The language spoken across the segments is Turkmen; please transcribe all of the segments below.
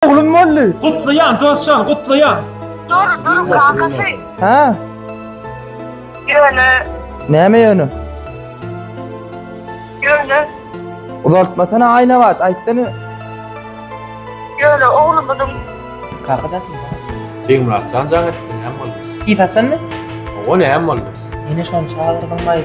Oglun boldy. Gutlaýan dostjan, gutlaýan. Dur, dur kakasy. Ha? Ýöne, Näme ýöne? ýöne, Uzaltmasana Aýnabat, aýtsana. ýöne oglumyzyň Kakajan kim? Begmyratjan jaň etdi, näme boldy? Ýit açanmy? Oňa näme boldy? Ýene şony çagyrdyňmy?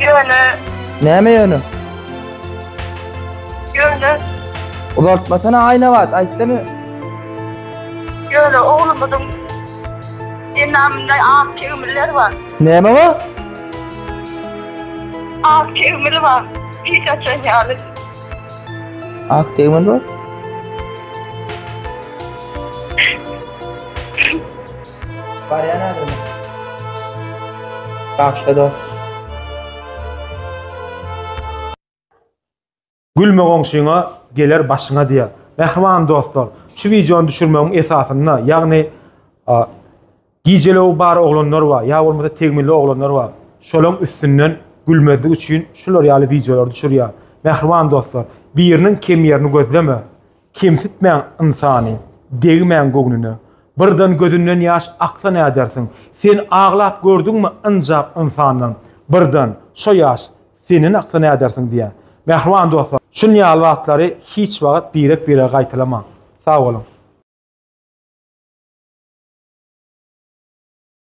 Ýöne, Näme ýöne? ýöne, Uzaltmasana Aýnabat, aýtsana. ýöne oglumyzyň enamynda ak tegmiller bar. Näme bar? Ak tegmili bar. Hiç açan ýaly. Ak tegmil bar. Barýan häzir men. Bagşda dost. Gülme goňşyňa, geler başyňa diýýär. Mähriban dostlar, şu wideony düşürmegiň esasynda, ýagny gijelew bar oglanlar bar, ýa bolmasa tegmilli oglanlar bar. Şolaryň üstünden gülmezlik üçin şular ýaly wideolary düşürýär. Mähriban dostlar, biriniň kem ýerini gözleme. Kemsitmäň ynsany, degmäň göwnüne. Birden gözünden ýaş aksa nädersiň? Sen aglap gördüňmi ynjap ynsandan? Birden, şo ýaş, senden aksa nädersiň diýýän. Mähriban dostlar, şun ýaly zatlary hiç wagt birek-birege gaýtalamaň. Sag boluň!